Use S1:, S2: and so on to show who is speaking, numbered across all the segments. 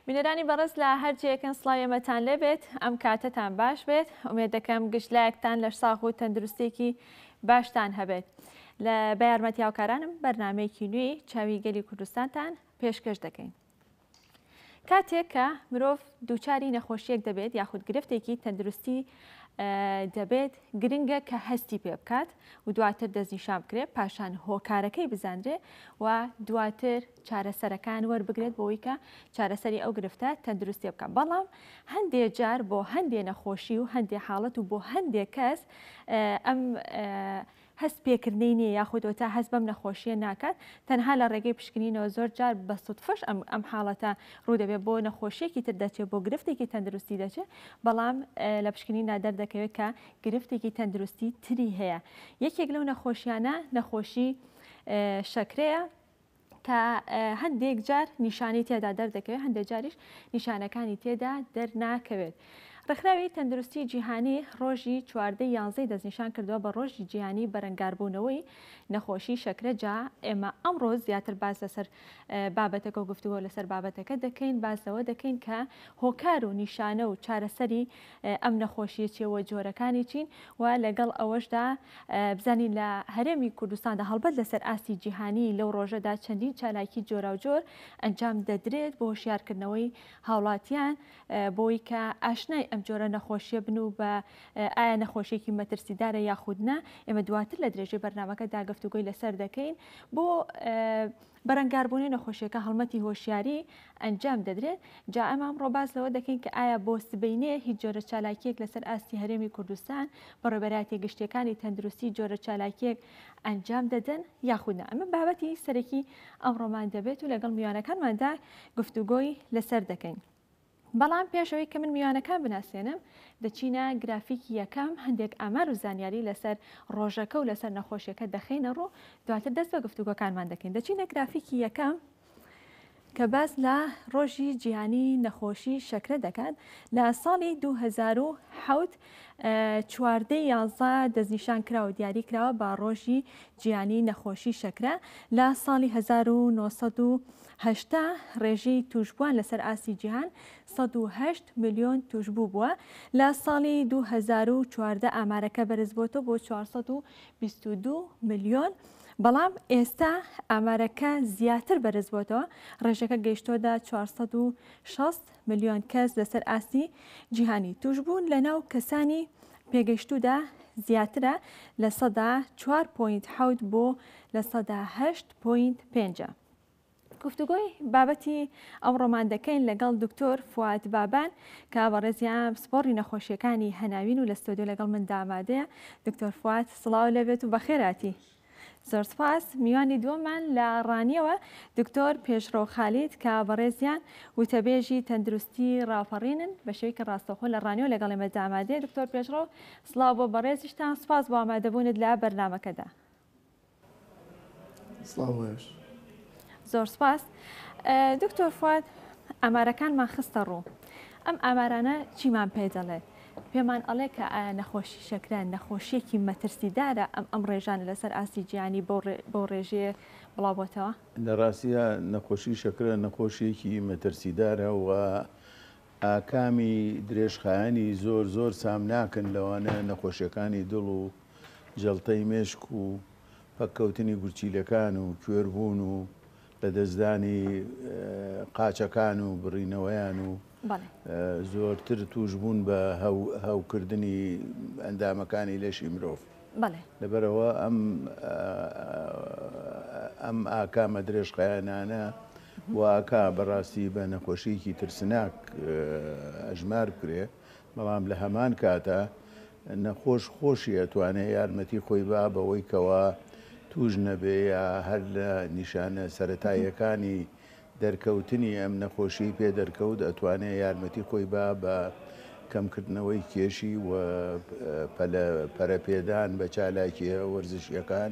S1: بینەرانی بەڕێز لە هەرجەکەن سلاوێمەتان لێبێت ئەم کاتتان باش بێت ئومێ دەکەم گشتلایەکتان لە ساغ و تەندروستێکی باشتان هەبێت لە بە یارمەتی هاوکارانم بەرنمەیەکی نوێی چاوی گەلی کوردستانتان پێشکەش دەکەین. کاتێک کە مرۆڤ دووچاری نەخۆشیەک دەبێت یاخود گرفتێکی تەندروستی دەبێت گرنگە کە هەستی پێ بکات و دواتر دەستنیشان بکرێت پاشان هۆکارەکەی بزانرێ و دواتر چارەسەرەکان وەربگرێت بۆی کە چارەسەری ئەو گرفتە تەندروستی بکە بەڵام هەندێ جار بۆ هەندێ نەخۆشی و هەندێ حاڵەت و بۆ هەندێ کەس ئەم هەست پێکردنی نیە یاخود وەتا هەست بەم نەخۆشیە ناکات تەنها لە ڕێگەی پشکنینەوە زۆر جار بە سوتفەش ئەم ئەم حاڵەتە ڕوودەبێت بۆ نەخۆشیەکی تر دەچێت بۆ گرفتێکی تەندروستی دەچێت بەڵام لە پشکنیندا دەردەکەوێت کە گرفتێکی تەندروستی تری هەیە یەکێک لەو نەخۆشیانە نەخۆشی شەکرەیە کە هەندێک جار نیشانەی تێدا دەردەکەوێت هەندێک جاریش نیشانەکانی تێدا دەرناکەوێت. ڕێکخراوی تەندروستی جیهانی ڕۆژی چواردە یانزەی دەستنیشان کردووە بە ڕۆژی جیهانی بەرەنگاربوونەوەی نەخۆشی شەکرە جا ئێمە ئەمڕۆ زیاتر باز لەسەر بابەتەکە و گفتوگۆ لەسەر بابەتەکە دەکەین باز لەوە دەکەین کە هۆکار و نیشانە و چارەسەری ئەم نەخۆشییە چییە و جۆرەکانی چین و لەگەڵ ئەوەشدا بزانین لە هەرێمی کوردستاندا هەڵبەت لەسەر ئاستی جیهانی لەو ڕۆژەدا چەندین چالاکی جۆراوجۆر ئەنجام دەدرێت بۆ هۆشیارکردنەوەی هاوڵاتیان بۆی کە ئاشنای ئەم جۆرە نەخۆشیە بن و بە ئایا نەخۆشیێکی مەترسیدارە یاخودنا ئێمە دواتر لە درێژەی بەرنمەکە داگفتوگوی لەسەر دەکەین بۆ بەرەنگاربوونەی نەخۆشیەکە هەڵمەتی هۆشیاری ئەنجام دەدرێت، جا ئێمە ئەمڕۆ باس لەوە دەکەین کە ئایا بۆ سبەینێ هیچ جۆرە چالاکییەک لەسەر ئاستی هەرێمی کوردستان، بەڕێوبەرایەتیە گشتیەکانی تەندروستی جۆرە چالاکییەک ئەنجام دەدەن یاخود نا؟ ئەمە بابەتی سەرەکی ئەمڕۆمان دەبێت و لەگەڵ میوانەکانماندا گفتوگۆی لەسەر دەکەین. بەڵام پێش ئەوەی کە من میوانەکان بناسێنم دەچینە گرافیکی یەکەم هەندێک ئامار و زانیاری لەسەر ڕۆژەکە و لەسەر نەخۆشیەکە دەخینە ڕوو دواتر دەست بە گفتوگۆکانمان دەکەین دەچینە گرافیکی یەکەم کە باس لە ڕۆژی جیهانی نەخۆشی شەکرە دەکات لە ساڵی 2007 چواردە یازە دەستنیشان کراوە دیاری کراوە بە ڕۆژی جیهانی نەخۆشی شەکرە لە ساڵی 1970 هەشتا ڕێژی تووشبووان لەسەر ئاستی جیهان سەد و هەشت ملیۆن تووشبوو بووە، لە ساڵی دوو هەزار و چواردە ئامارەکە بەرزبووەتەوە بۆ چوار سەد و بیست و دوو ملیۆن، بەڵام ئێستا ئامارەکە زیاتر بەرزبووەتەوە، ڕێژەکە گەیشتووەدە چوار سەد و شەست ملیۆن کەس لەسەر ئاستی جیهانی، تووشبوون لەناو کەسانی پێگەیشتوودا زیاترە لە سەدا چوار پۆینت حەوت بۆ لە سەدا هەشت پۆینت پێنج. گفتوگۆی بابەتی ئەو ڕۆمان دەکەین لەگەڵ دکتۆر فواد بابان کە بەڕێزیان پسپۆڕی نەخۆشیەکانی هەناوین و لە ستۆدیۆ لەگەڵ من دامادەیە دکتۆر فواد سڵاو لەبێت و بەخێراتی زۆر سپاس میوانی دووەمان لە ڕانیەوە دکتۆر پێشڕۆ خالید کە بەڕێزیان وتەبێژی تەندروستی ڕاپەڕینن بە شێوەیەکی ڕاستەخۆ لە ڕانیەوە لەگەڵ ئێمە دامادێ دکتۆر پێشڕۆ سلااو بۆ بەڕێزیشتان سپاس بۆ ئامادەبوونت لە بەرنمەکەدا
S2: زۆر
S1: سپاس دکتۆر فواد ئامارەکانمان خستە ڕوو ئەم ئامارانە چیمان پێ دەڵێت پێمان ئەڵێ کە ئایا نەخۆشی شەکرە نەخۆشیەکی مەترسیدارە ئەم ئەم ڕێژانە لەسەر ئاستی جیانی بۆ ڕێژەیە بڵاوبتەوە لە ڕاستە
S2: نەخۆشی شەکرە نەخۆشیەکی مەترسیدارە و ئاکامی درێژخایەنی زۆر زۆر سام ناکەن لەوانە نەخۆشیەکانی دڵ و جەڵتەی مێشک و پەککەوتنی گورچیلەکان و کوێربوون و لەدەستدانی قاچەکان و بڕینەوەیان و زۆرتر توشبوون بە هەوکردنی ئەندامەکانی لەشی مرۆڤ لەبەرەوە ئەم ئەم ئاکامە درێژخایەنانە واکە بەڕاستی بە نەخۆشیەکی ترسناک ئەژمار بکرێ بەڵام لە هەمان کاتا نەخۆش خۆشی ئەتوانێ یارمەتی خۆی با بەوەی کەوا تووش نەبێ یا هەر لە نیشانە سەرەتاییەکانی دەرکەوتنی ئەم نەخۆشیەی پێ دەرکەوت ئەتوانێ یارمەتی خۆی با بە کەم کردنەوەی کێشی و پەلە پەرەپێدان بە چالاکیە وەرزشیەکان.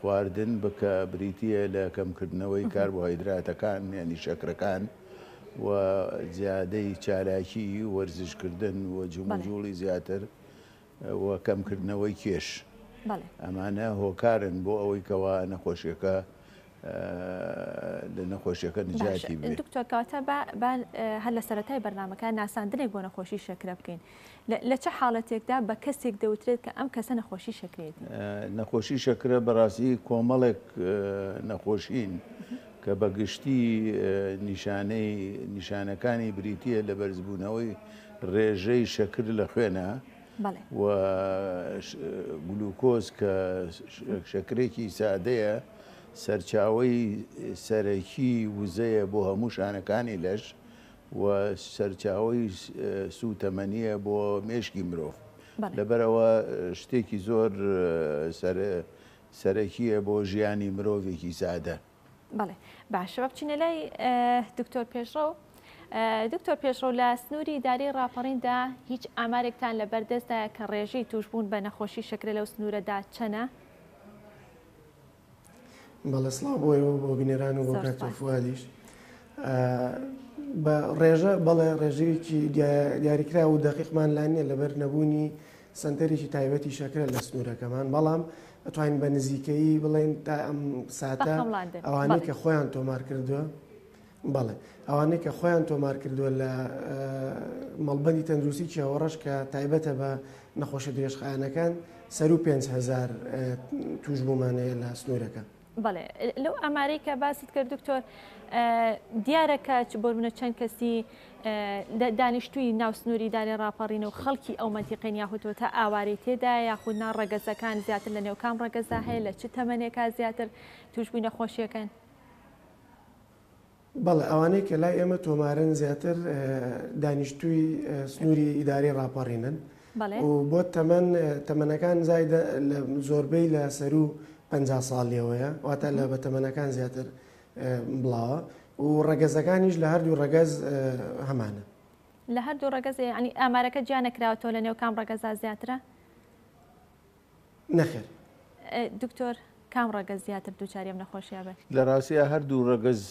S2: خواردن بکە بریتییە لە کەمکردنەوەی کاربۆهایدراتەکان یانی شەکرەکان و زیادەی چالاکی وەرزشکردن و جموجوڵی زیاتر و کەمکردنەوەی کێش ئەمانە هۆکارن بۆ ئەوەی کەوا نەخۆشیەکە لە نەخۆشیەکە نجاتی بێت دکتۆر کاتە
S1: هەر لە سەرەتای بەرنمەکە ناساندنێک بۆ نەخۆشی شەکرە بکەین لە چ حاڵەتێکدا بە کەسێک دەوترێت کە ئەم کەسە نەخۆشی شەکرەیەتی؟ نەخۆشی
S2: شەکرە بەڕاستی کۆمەڵێک نەخۆشین کە بە گشتی نیشانەی نیشانەکانی بریتە لە بەرزبوونەوەی ڕێژەی شەکر لە خوێنە و گلوکۆز کە شەکرێکی سادەیە سەرچاوی سەرەکی وزەیە بۆ هەموو شانەکانی لەش و سەرچاوەی سووتەمەنییە بۆ مێشکی مرۆڤ، لەبەرئەوە شتێکی زۆر سەرەکییە بۆ ژیانی مرۆڤێکی سادە. بەڵێ
S1: باشە با بچینە لای دکتۆر پێشڕەو. دکتۆر پێشڕەو لە سنووری ئیداری ڕاپەڕیندا هیچ ئامارێکتان لە بەردەستدایە کە ڕێژەی تووشبوون بە نەخۆشی شەکرە لەو سنوورەدا چەنە؟
S3: بەڵێ سڵاو بۆ ئێوە بۆ بینەران و بۆ کاکتۆ فوادیش بە ڕێژە بەڵێ ڕێژەیەکی دیاریکرا و دەقیقمان لا نییە لەبەر نەبوونی سنتەرێکی تایبەتی شەکرە لە سنوورەکەمان بەڵام ئەتوانین بە نزیکەی بڵێن تا ئەم ساتە ئەوانەی کە خۆیان تۆمار کردووە بەڵێ ئەوانەی کە خۆیان تۆمار کردووە لە مەڵبەندی تەندروستی چیاوەڕەش کە تایبەتە بە نەخۆشە درێژخایەنەکان سەرو پێنج هزار توش بوومانەیە لە سنوورەکە. بەڵێ
S1: لەو ئامارەی کە باست کرد دکتۆر دیارە کە چ بۆرمنە چەند کەسی دانیشتووی ناو سنووری دارێ ڕاپەڕین و خەڵکی ئەو مەنتیقین یاخوتۆ تا ئاوارەی تێدا یاخود نا ڕەگەزەکان زیاتر لە نێوکام ڕەگەزدا هەیە لە چ تەمەنێکا زیاتر توشببووی نەخۆشیەکەن
S3: بەڵێ ئەوانەی کە لای ئێمە تۆمارن زیاتر دانیشتووی سنووری ئیداری ڕاپەڕینن و بۆ تەمەەن تەمەەنەکان زایدە لە زۆربەی لە سەرو پ ساڵیەوەیە واتە لە بە تەمەەنەکان زیاتر بڵاوە و ڕەگەزەکانیش لە هەردوو ڕەگەز هەمانە لە
S1: هەردوو ڕەگەزی ئەنی ئامارەکە جیانەکراوەوە لە نێو کام ڕەگەزا زیاترە
S3: نەخێر. دکتۆر
S1: کام ڕەگەز زیاتر دووچاری ئەم نەخۆشیە ئەبن؟ لە ڕاستیا هەردوو
S2: ڕەگەز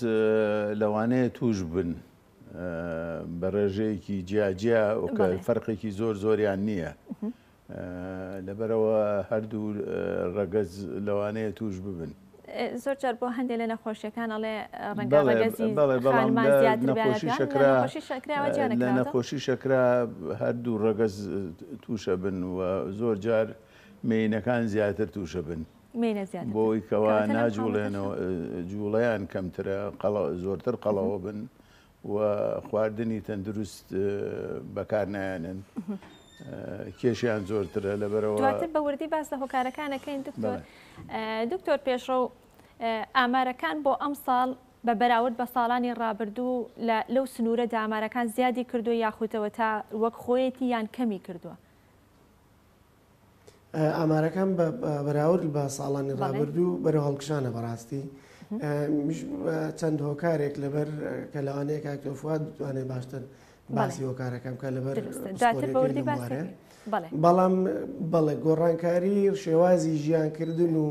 S2: لەوانەیە تووش بن بە ڕێژەیەکی جیا جیا وکە فەرقێکی زۆر زۆریان نییە لەبەرەوە هەردوو ڕەگەز لەوانەیە تووش ببن.
S1: زۆر جار بۆ هەندێ لە نەخۆشیەکان ئەڵێ ڕەنگە
S2: ڕەگەزی خانمان زیاتر بێت لە نەخۆشی شەکرا هەردوو ڕەگەز تووشە بن و زۆر جار مێینەکان زیاتر تووشە بن بۆی کەوا ناجوڵێنەوە جوڵەیان کەمترە قەڵە زۆرتر قەڵەوە بن و خواردنی تەندروست بەکار نایەنن کێشیان زۆرترە لەبەرەوە دواتر بە وردی باس لە
S1: هۆکارەکانەکەین دکتۆر دکتۆر پێشڕە و ئامارەکان بۆ ئەم ساڵ بە بەراورد بە ساڵانی ڕابردوو لەو سنوورە دامارەکان زیادی کردو یاخودەوە تا وەک خۆیەتی یان کەمی کردووە
S3: ئامارەکان بە بەراورد بە ساڵانی ڕابردوو بەرە هەڵکشانە بەڕاستی چەند هۆکارێک لەبەر کە لەوانەیە کاکتۆفات بتوانێت باشتر باسی هۆکارەکەم کە لەبەر بەڵام بەڵێ گۆڕانکاری شێوازی ژیان کردن و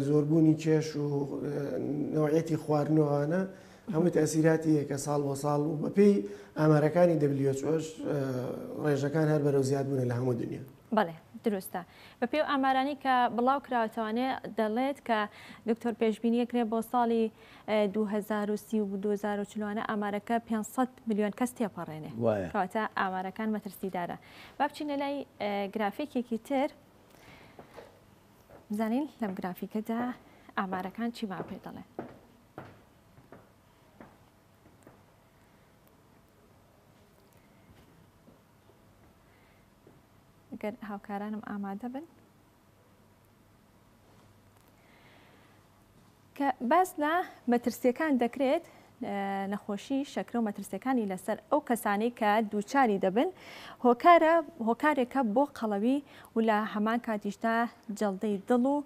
S3: زۆربوونی کێش و نەوعیەتی خواردن و ئەوانە هەمووی تەسیراتی یەکە ساڵ بۆ ساڵ و بەپێی ئامارەکانی دەبلیۆچۆش ڕێژەکان هەر بەرەو زیاد بوونە لە هەموو دنیا. بەڵێ دروستە
S1: بە پێی ئەو ئامارانەی کە بڵاو کراوەتەوانێ دەڵێت کە دکتۆر پێشبینی ئەکرێ بۆ ساڵی دوو هەزار و سی و دوو هەزار و چل وانە ئامارەکە پێنج سەد ملیۆن کەس تێپەڕێنێ وایە کەواتە ئامارەکان مەترسیدارە با بچینە لای گرافیکێکی تر بزانین لەم گرافیکەدا ئامارەکان چیمان پێ دەڵێن. گەر هاوکارانم ئامادە بن کە باس لە مەترسییەکان دەکرێت، نەخۆشیی شەکرە و مەترسییەکانی لەسەر ئەو کەسانەی کە دووچاری دەبن، هۆکارە هۆکارێکە بۆ قەڵەوی و لە هەمان کاتیشدا جەڵدەی دڵ و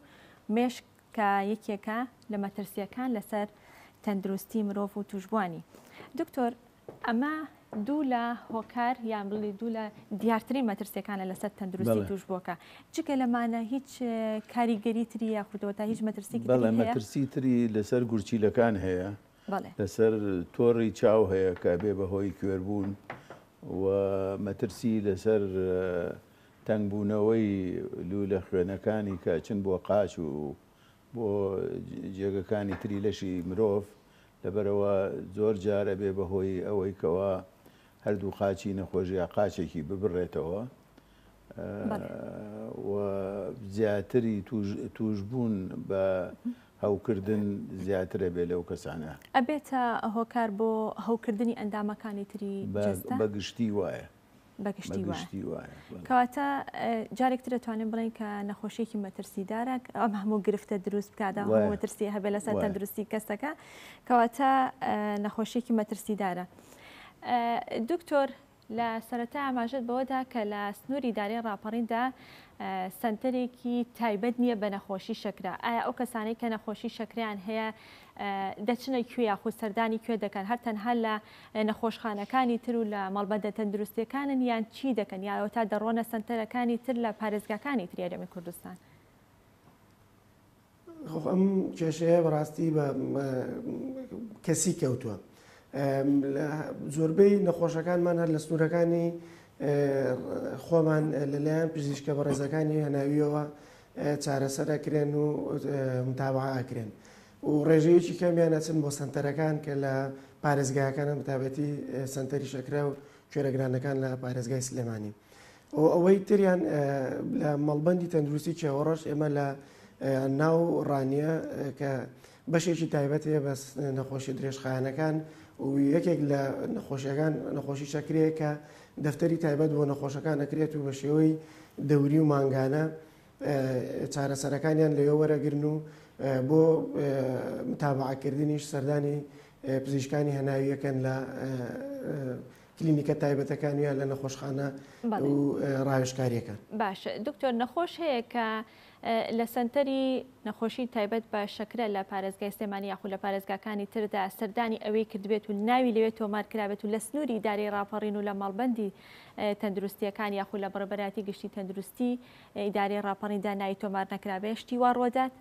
S1: مێشک کە یەکێکە لە مەترسییەکان لەسەر تەندروستی مرۆڤ و تووشبووانی. دکتۆر. ئەمە دوو لە هۆکار یان بڵی دوو لە دیارترین مەترسیەکانە لەسەر تەندروستی توشبووەکە جگە لەمانە هیچ کاریگەری تری یاخودەوە تا هیچ مەترسی مەترسی تری
S2: لەسەر گورچیلەکان هەیە لەسەر تۆڕی چاو هەیە کە بێ بەهۆی کوێربوون و مەترسی لەسەر تەنگبوونەوەی لوولە خوێنەکانی کە چن بۆ قاچ و بۆ جێگەکانی تری لەشی مرۆڤ لەبەرئەوە زۆر جار ئەبێ بەهۆی ئەوەی کەوا هەردوو قاچی نەخۆش یا قاچێکی ببڕێتەوە و زیاتری توشبوون بە هەوکردن زیاتر ئەبێ لەو کەسانە ئەبێتە
S1: هۆکار بۆ هەوکردنی ئەندامەکانی تری جەستە؟ بە گشتی
S2: وایە. بەگشتی وایە
S1: کەواتە جارێک تر دەتوانین بڵێن کە نەخۆشیێکی مەترسیدارە ئەم هەموو گرفتە دروست بکات مەترسی هەبێ لەسەر تەندروستی کەسەکە کەواتە نەخۆشیێکی مەترسیدارە دکتۆر لە سەرەتا ئاماژت بەوەدا کە لە سنووری دارێ ڕاپەڕیندا سنتەرێکی تایبەت نییە بە نەخۆشی شەکرا ئایا ئەو کەسانەی کە نەخۆشی شەکریان هەیە دەچنە کوێ یاخود سەردانی کوێ دەکەن هەر تەنها لە نەخۆشخانەکانی تر و لە مەڵبەندە تەندروستیەکانن یان چی دەکەن یا ئەوەتا دەڕۆنە سەنتەرەکانی تر لە پارێزگاکانی تری هەرێمی کوردستان؟
S3: ئەم کێشەیە بەڕاستی بە کەسی کەوتووە زۆربەی نەخۆشەکانمان هەر لە سنوورەکانی خۆمان لەلایەن پزیشکە بە ڕێزەکانی هەناویەوە چارەسەرەکرێن و متابعاکرێن و ڕێژەیەکی کەمیان ئەچن بۆ سەنتەرەکان کە لە پارێزگاکانن بەتابەتی سەنتەری شەکرە و کوێرەگرانەکان لە پارێزگای سلێمانی و ئەوەی تریان لە مەڵبندی تەندروستی چێوەڕەش ئێمە لە ناو ڕانیە کە بەشێکی تایبەت هەیە بەس نەخۆشی درێژخانەکان و یەکێک لە نەخۆشیەکان نەخۆشی شەکرەیە کە دەفتەری تایبەت بۆ نەخۆشەکان ئەکرێت و بە شێوەی دەوری و مانگانە چارەسەرەکانیان لەوێ وەرەگرن و بۆ متابعەکردنیش سەردانی پزیشکانی هەناویەکەن لە کلینیکە تایبەتەکانیان لە نەخۆشخانە و ڕاوێشکاریەکان باش دکتۆر
S1: نەخۆش هەیە کە لە سنتەری نەخۆشی تایبەت بە شەکرە لە پارێزگای سلێمانی یاخو لە پارێزگاکانی تردا سەردانی ئەوەی کردبێت و ناوی لەوێت تۆمار کرابێت و لە سنووری داری ڕاپەڕین و لە ماڵبندی تەندروستیەکان یاخو لە بڕبەتی گشتی تەندروستی ئیدارەی ڕاپەڕین داناوی تۆمار نەکرابێ شتی وا ڕوەدات؟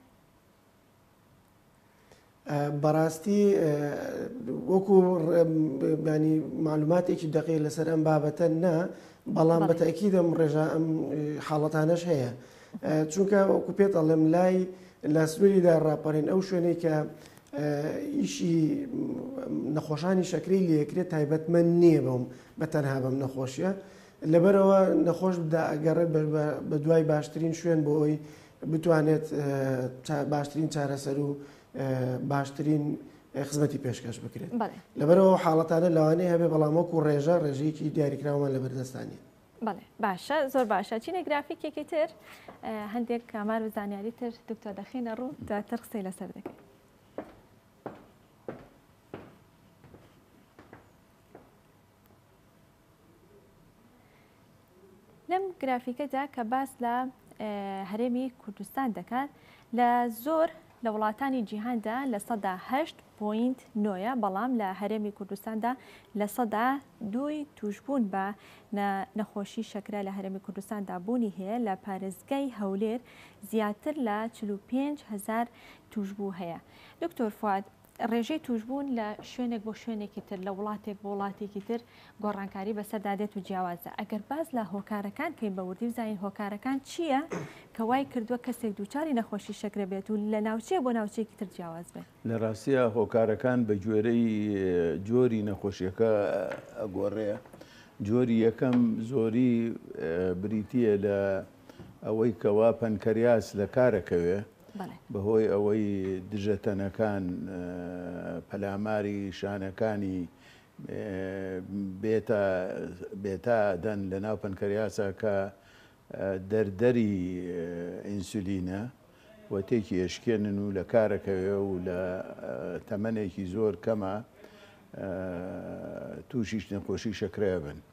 S3: بەڕاستی وەکو ڕێبانی معلوماتێکی دەقی لەسەر ئەم بابەتە نا بەڵام بەتەکی دەم ڕێژا ئەم حاڵەتانەش هەیە چونکە وەکو پێت ئەڵێم لای لە سنووریدا ڕاپەڕین ئەو شوێنەی کە ئیشی نەخۆشانی شەکری لەکرێت تایبەتمە نییە بەم بە تەنها بەم نەخۆشیە لەبەرئەوە نەخۆش دائەگەڕێت بە دوای باشترین شوێن بۆ ئەوەی بتوانێت باشترین چارەسەر و باشترین خزمەتی پێشکەش بکرێت لەبەرەوە حاڵەتانە لەوانەیە هەبێ بەڵام وەکو ڕێژە ڕێژەیەکی دیاریکراومان لە بەردەستانی بەڵێ باشە
S1: زۆر باشە چینە گرافیکێکی تر هەندێک کامار و زانیاری تر دکتۆ دەخینە ڕوو دواتر قسەی لەسەر دەکەین لەم گرافیکەدا کە باس لە هەرێمی کوردستان دەکات لە زۆر لە وڵاتانی جیهاندا لە سەدا هەشت پوینت نۆە بەڵام لە هەرێمی کوردستاندا لە سەدا دوی توشبوون بە نەخۆشی شەکرە لە هەرێمی کوردستاندا بوونی هەیە لە پارێزگای هەولێر زیاتر لە 45 هزار توشبوو هەیە دکتۆر فواد ڕێژەی تووشبوون لە شوێنێک بۆ شوێنێکی تر، لە وڵاتێک بۆ وڵاتێکی تر گۆڕانکاری بەسەردا دێت و جیاوازە. ئەگەر باس لە هۆکارەکان بکەین بە وردی بزانین هۆکارەکان چییە کە وای کردووە کەسێک دووچاری نەخۆشی شەکرە بێت و لە ناوچەیەک بۆ ناوچەیەکی تر جیاواز بێت؟ لە ڕاستیدا
S2: هۆکارەکان بە گوێرەی جۆری نەخۆشیەکە ئەگۆڕێ. جۆری یەکەم زۆری بریتییە لە ئەوەی کەوا پەنکەریاس لە کار ئەکەوێ. بەهۆی ئەوەی دژە تەنەکان پەلاماری شانەکانی بێتا بێتا ئەدەن لە ناو پەنکەریاسا کە دەردەری ئینسولینە و تێکی ئەشکێنن و لە کارەکەوێ و لە تەمەنێکی زۆر کەما تووشیش نەخۆشی شەکرە ئەبن.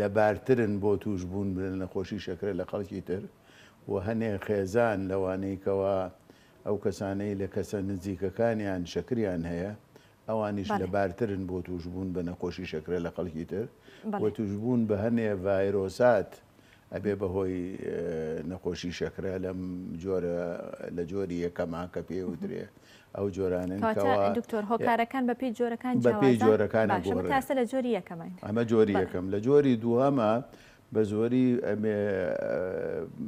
S2: لەبارترن بۆ تووشبوون بە نەخۆشی شەکرە لە خەڵکی تر و هەنێ خێزان لەوانەی کەوا ئەو کەسانەی لە کەسە نزیکەکانیان شەکریان هەیە ئەوانیش لە بارترن بۆ تووشبوون بە نەخۆشی شەکرە لە خەڵکی تر و تووشبوون بە هەنێ ڤایرۆسات ئەبێ بەهۆی نەخۆشی شەکرە لەم جۆرە لە جۆری یەکەما کە پێ وترێ ئەو جۆرانن دکتۆر هۆکارەکان بە پێی
S1: جۆرەکان بەپی جۆرەکان تاسە
S2: لە جۆری
S1: یەکەم ئەمە جۆری یەکەم لە
S2: جۆری دووەمە بە زۆری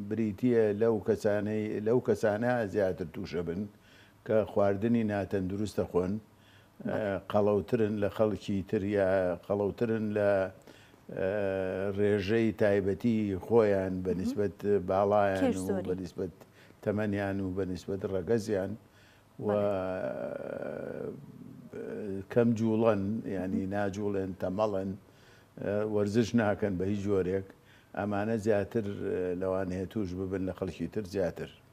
S2: بریتە لەو کەسانەی لەو کەسانە زیاتر تووشە بن کە خواردنی ناتەندروستە خۆن قەڵەوترن لە خەڵکی تر یا قەڵەوترن لە ڕێژەی تایبەتی خۆیان بە نسبەت باڵایان و بە نسبەت تەمەنیان و بە نسبەت ڕەگەزیان و کەم جوڵەن ینی ناجوڵێن تەمەڵن وەرزش ناکەن بە هیچ جۆرێک ئەمانە زیاتر لەوانەیە توش ببن لە خەڵکی تر زیاتر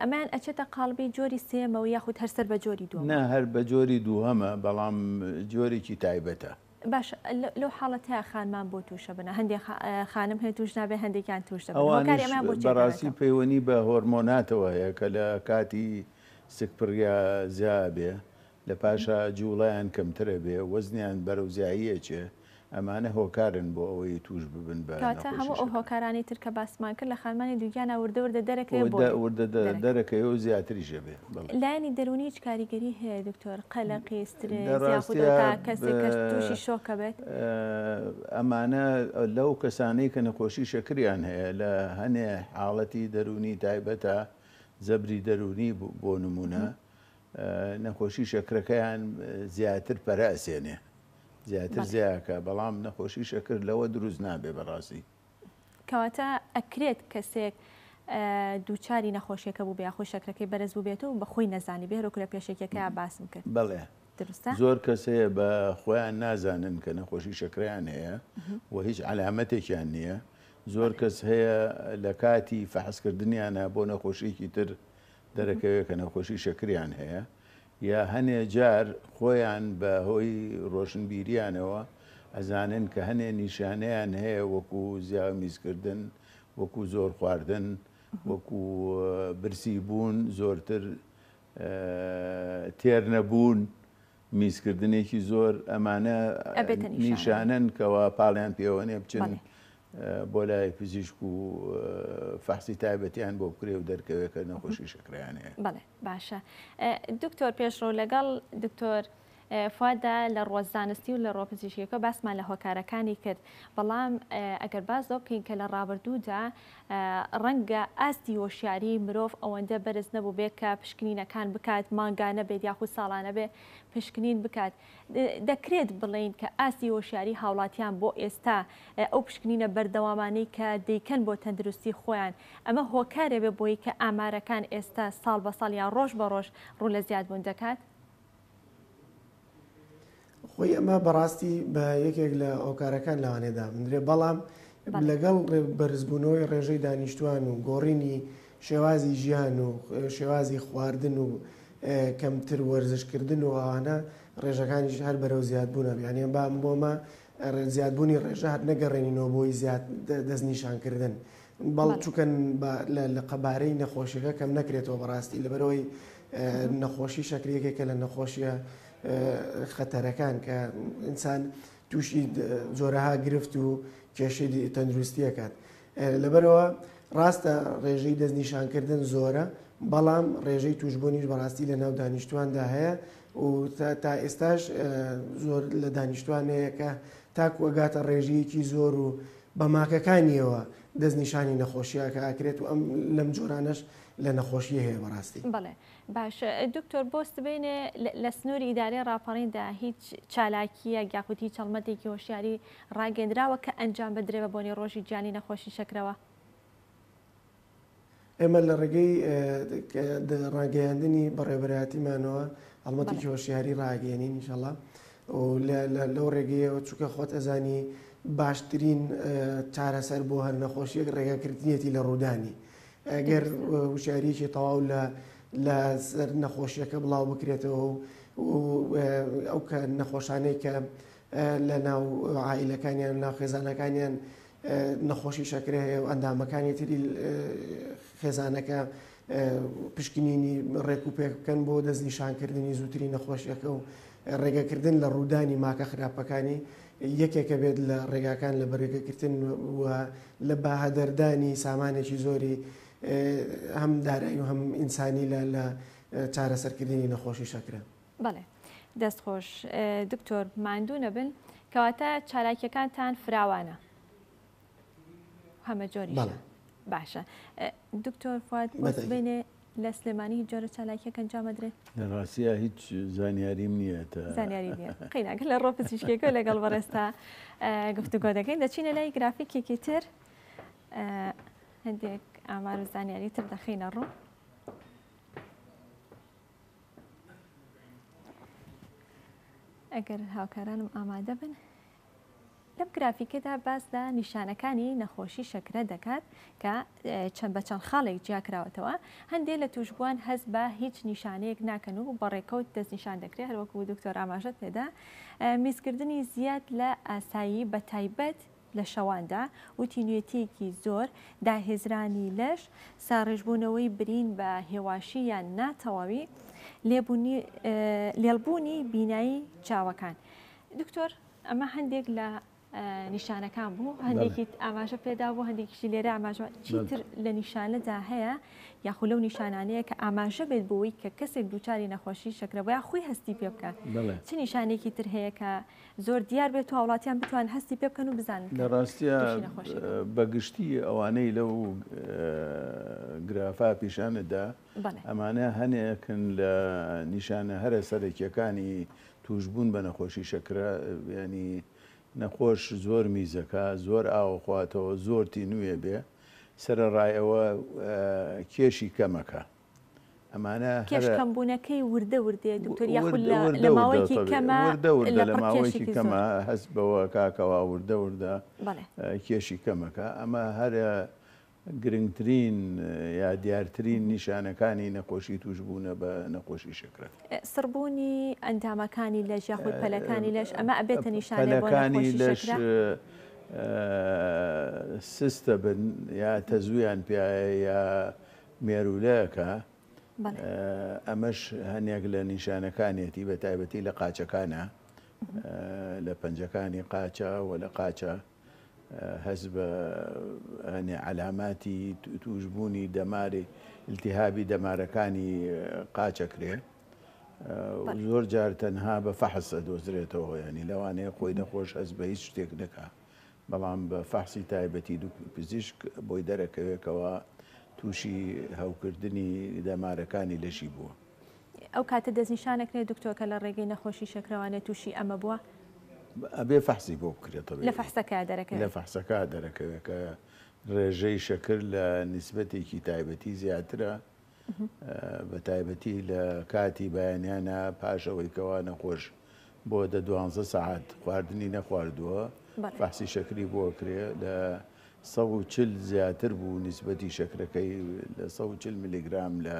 S2: ئەمەیان
S1: ئەچێتە قاڵبی جۆری سێیەمەوە یاخود هەر سەر بە جۆری دووەمە؟ نا هەر بە جۆری
S2: دووهەمە بەڵام جۆرێکی تایبەتە. باشە
S1: لەو حاڵەتەیا خانمان بۆ توشە بنە هەندێ خانم هەیە توش نابێ هەندێکیان توش دەبن هۆکاری ئەمەیان بۆ چیە کەواتە؟ ئەوانیش بەڕاستی
S2: پەیوەنی بە هۆرمۆناتەوە هەیە کە لە کاتی سکپڕیا زیا ئەبێ لە پاشا جوڵەیان کەمتر ئەبێ وەزنیان بەرەو زیایی ئەچێ ئەمانە هۆکارن بۆ ئەوەی تووش ببن بە نەخۆشی شەکرە. کەواتە هەموو ئەو هۆکارانەی
S1: تر کە باسمان کرد لە خانمانی دووگیانا وردە وردە دەرەکەوێ بۆ لێ. وردە وردە دەرەکەوێ
S2: و زیاتریش ئەبێ. بەڵێ. لایەنی دەروونی هیچ
S1: کاریگەری هەیە دکتۆر؟ قەلەقی، سترێس، یاخود ئەو تا کەسێک کە تووشی شۆکە بێت؟
S2: ئەمانە لەو کەسانەی کە نەخۆشی شەکریان هەیە لە هەنێ حاڵەتی دەروونی تایبەتە، جەبری دەروونی بۆ نموونە، نەخۆشی شەکرەکەیان زیاتر پەرە ئەسێنێ. زیاتر زیاکە بەڵام نەخۆشی شەکر لەوە دروست نابێ بەڕاستی. کەواتە
S1: ئەکرێت کەسێک دووچاری نەخۆشیەکە بووبێ یاخود شەکرەکەی بەرز بووبێت و بە خۆی نەزانی بێ هەرۆ کورە پێشەکیەکەیا باسم کرد بەڵێ درستە
S2: زۆر کەس هەیە بە خۆیان نازانن کە نەخۆشی شەکریان هەیە و هیچ علامەتێکیان نییە زۆر کەس هەیە لە کاتی فەحسکردنیانە بۆ نەخۆشیێکی تر دەرەکەوێت کە نەخۆشی شەکریان هەیە یا هەنێ جار خۆیان بە هۆی ڕۆشنبیریانەوە ئەزانن کە هەنێ نیشانەیان هەیە وەکو زیاو میزکردن، وەکو زۆر خواردن، وەکو برسی بوون، زۆرتر تێر نەبوون، میزکردنێکی زۆر، ئەمانە نیشانەن کەوا پاڵیان پێوەێ بچن بۆ لای پزیشک و فەحسی تایبەتیان بۆ بکرێ و دەرکەوێت کە نەخۆشی شەکرەیان هەیە. باشە
S1: دکتۆر پێشڕەو لەگەڵ دکتۆر فوادا لە ڕوە زانستی و لە ڕۆ پزیشکەکە باسمان لە هۆکارەکانی کرد بەڵام ئەگەر باز لەو بکەین کە لە ڕابردوودا ڕەنگە ئاستی هۆشیاری مرۆڤ ئەوەندە بەرز نەبوو بێت کە پشکنینەکان بکات مانگانە بێت یاخود ساڵانە بێ پشکنین بکات دەکرێت بڵێین کە ئاستی هۆشیاری هاوڵاتیان بۆ ئێستا ئەو پشکنینە بەردەوامانەی کە دەیکەن بۆ تەندروستی خۆیان ئەمە هۆکارێ بێ بۆی کە ئامارەکان ئێستا ساڵ بە ساڵ یان ڕۆژ بە ڕۆژ ڕوو لە زیاد بوون دەکات؟
S3: خۆی ئەمە بەڕاستی بە یەکێک لە هۆکارەکان لەوانێ دابنرێ بەڵام لەگەڵ بەرزبوونەوەی ڕێژەی دانیشتوان و گۆڕینی شێوازی ژیان و شێوازی خواردن و کەمتر وەرزش کردن و ئەوانە ڕێژەکانیش هەر بەرەو زیاد بوونە یانە بام بۆمە زیادبوونی ڕێژە هەر نەگەڕێنینەوە بۆی زیاد دەستنیشانکردن بەڵ چکەن لە قەبارەی نەخۆشیەکە کەم نەکرێتەوە بەڕاستی لەبەرەوەی نەخۆشی شەکرێکێکە لە نەخۆشیە خەتەرەکان کە ئینسان تووشی جۆرەها گرفت و کێشی تەندروستیەکات لەبەرئەوە ڕاستە ڕێژەی دەستنیشانکردن زۆرە، بەڵام ڕێژەی تووشبوونیش بەڕاستی لەناو دانیشتوواندا هەیە و تا ئێستاش زۆر لە دانیشتووان هەیە کە تاکوو ئەگاتە ڕێژەیەکی زۆر و بە ماکەکانییەوە دەستنیشانی نەخۆشییەکە ئەکرێت و ئەم لەم جۆرانەش لە نەخۆشیی هەیە بەڕاستی. باشە
S1: دکتۆر بۆ سبەینێ لە سنووری ئیدارەی ڕاپەڕیندا هیچ چالاکییەک یاخود هیچ هەڵمەتێکی هۆشیاری ڕاگەندراوە کە ئەنجام بدرێ بە بۆنەی ڕۆژی جیانی نەخۆشی شەکرەوە؟
S3: ئێمە لە ڕێگەی ڕاگەیاندنی بەڕێوەبەرایەتیمانەوە هەڵمەتێکی هۆشیاری ڕاگەێنین انشاءاللە و لەو ڕێگەیەوە چووکە خۆت ئەزانی باشترین چارەسەر بۆ هەر نەخۆشیەک ڕێگەکردنیەتی لە ڕوودانی. ئەگەر وشاریکی تەواو لە لە سەر نەخۆشیەکە بڵاو بکرێتەوە و ئەو کە نەخۆشانەی کە لە ناو عیلەکانیان ناو خێزانەکانیان نەخۆشی شەکرە هەیە و ئەندامەکانی تری خێزانەکە پشکنینی ڕێک و پێک بکەن بۆ دەستنیشانکردنی زووتری نەخۆشیەکە و ڕێگەکردن لە ڕوودانی ماکە خراپەکانی یەکێکە بێت لە ڕێگاکان لە بەرەگەگرتن و لە بەهەدەردانی سامانێکی زۆری هەم دارایی و هەم ئینسانی لە لە چارەسەرکردنی نەخۆشی شەکرە. بەڵێ
S1: دەست خۆش دکتۆر ماندوو نەبن کەواتە چالاکیەکانتان فراوانە هەمە جۆریش باشە دکتۆر فات بێنێ لە سلێمانی هیچ جۆرە چالاکیەکە ئەنجامەدرێت لە ڕاستە هیچ
S2: زانیاریم نییە
S1: قیناکە لە ڕۆپە چیشکێکە لەگەڵ بەڕێستا گفتوگۆ دەکەین دەچینە لای گرافیکێکی تر هەندێک ئامار و زانیاری تر دەخینە ڕوو ئەگەر هاوکارانم ئامادە بن لەم گرافیکەدا باس لە نیشانەکانی نەخۆشی شەکرە دەکات کە چەند بە چەند خاڵێک جیاکراوەتەوە هەندێک لە توشبووان هەست بە هیچ نیشانەیەک ناکەن و بەڕێکەوت دەستنیشان دەکرێت هەروەکو دکتۆر ئاماژەت پێدا میزکردنی زیاد لە ئاسایی بە تایبەت لە شەواندا و تینوێتیەکی زۆر داهێزرانی لەش ساڕێژبوونەوەی برین بە هێواشی یان ناتەواوی لێڵبوونی بینایی چاوەکان دکتۆر ئەمە هەندێک لە نیشانەکان بوو هەندێکیت ئاماژە پێدا بۆ هەندێکیشی لێرە ئاماژوە چیتر لە نیشانەدا هەیە یاخو لەو نیشانانەیە کە ئاماژە بێت بۆی کە کەسێک دووچاری نەخۆشی شەکرە بۆیان خۆی هەستی پێ بکە چ نیشانێکی تر هەیە کە زۆر دیار بێت و هاوڵاتیان بتوان هەستی پێ بکەن و بزان لە ڕاستە
S2: بەگشتی ئەوانەی لەو گرافا پیشانەدا ئەمانە هەنێکن لە نیشانە هەرە سەرەکیەکانی توشبوون بە نەخۆشی شەکرە ینی نەخۆش زۆر میزەکە زۆر ئاوەخواتەوە زۆر تینوێ بێ سەرڕای ئەوە کێشی کەمەکە ئەمانە کێشکەمبوونەکەی وردە
S1: وردێ دکتۆر یاخود لە ماوەیەکی کەمە وردە وردە لە ماوەیەکی
S2: کەمە هەست بەوە کاکەوە وردە وردە کێشی کەمەکە ئەمە هەرە گرنگترین یا دیارترین نیشانەکانی نەخۆشی توشبوونە بە نەخۆشی شەکرە. سڕبوونی
S1: ئەندامەکانی لەش یاخود پەلەکانی لەش، ئەمە ئەبێتە نیشانەی بۆ نەخۆشی شەکرە؟ پەلەکانی لەش
S2: سست دەبن یا تەزوویان پێایە یا مێروولە ئەکا، ئەمەش هەنێک لە نیشانەکانیەتی بە تایبەتی لە قاچەکانا، لە پەنجەکانی قاچە و لە قاچە. هەست بە عەلاماتی تووشبوونی دەماری التهابی دەمارەکانی قاچەکرێ زۆر جار تەنها بە فەحس ئەدۆزرێتەوە ینی لەوانەیە خۆی نەخۆش هەست بە هیچ شتێک نەکا بەڵام بە فەحسی تایبەتی دوو پزیشک بۆی دەرەکەوێکەوە تووشی هەوکردنی دەمارەکانی لەشی بووە ئەو کاتە
S1: دەستنیشان ئەکرێت دکتۆر کە لە ڕێگەی نەخۆشی شەکرەوانێ تووشی ئەمە بووە؟ ئەبێ
S2: فەحسی بۆ بکرێت تەبیبی. لە فەحسەکە دەرەکەوێ.
S1: لە فەحسەکە دەرەکەوێ
S2: کە ڕێژەی شەکر لە نیسبەتێکی تایبەتی زیاترە بە تایبەتی لە کاتی بەیانیانە پاش ئەوەی کەوا نەخۆش بۆ دە دوانزە سەعات خواردنی نەخواردووە فەحسی شەکری بۆ کرێ لە سەد و چل زیاتر بوو نیسبەتی شەکرەکەی لە سەد و چل ملیگرام لە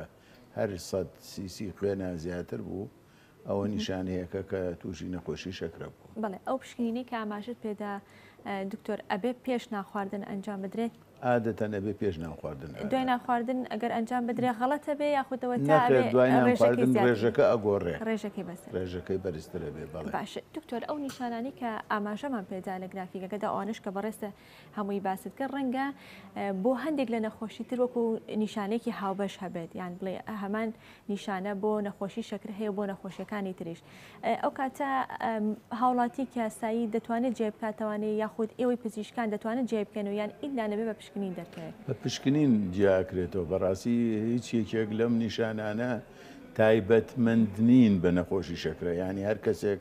S2: هەر سەد سی سی خوێنە زیاتر بوو ئەوە نیشانەیەکە کە تووشی نەخۆشی شەکرە بوو. بەڵێ ئەو پشکنینەی
S1: کە ئاماژەت پێدا دکتۆر ئەبێ پێش نانخواردن ئەنجام بدرێت؟
S2: ئادەتەن ئەبێ پێش نانخواردن ئەوێت. دوای نانخواردن
S1: ئەگەر ئەنجام بدرێ غەڵەتە بێ یاخود ئەوە تا ئەبێ نەخێر دوای ڕێژەکەی
S2: نانخواردن زیاتر بێ. ڕێژەکە ئەگۆڕێ ڕێژەکەی بەسەر بێ. ڕێژەکەی
S1: بەرزتر ئەبێ
S2: بەڵێ. باشە دکتۆر ئەو
S1: نیشانانەی کە ئاماژەمان پێدا لە گرافیکەکەدا ئەوانەش کە بەڕێزتە هەمووی باست کرد ڕەنگە بۆ هەندێک لە نەخۆشی تر وەکو نیشانێکی هاوبەش هەبێت یان بڵێ هەمان نیشانە بۆ نەخۆشی شەکر هەیە بۆ نەخۆشیەکانی تریش ئەو کاتە هاوڵاتی کاسایی دەتوانێت جێ بکاتوانێ یاخود ئێوەی پزیشکان دەتوانن جێ بکەن و یان ئیلا نەبێ بە پشکنین دەرکەوێت بە پشکنین
S2: جیاکرێتەوە بەڕاستی هیچ یەکێک لەم نیشانانە تایبەتمەند نین بە نەخۆشی شەکرە ینی هەر کەسێک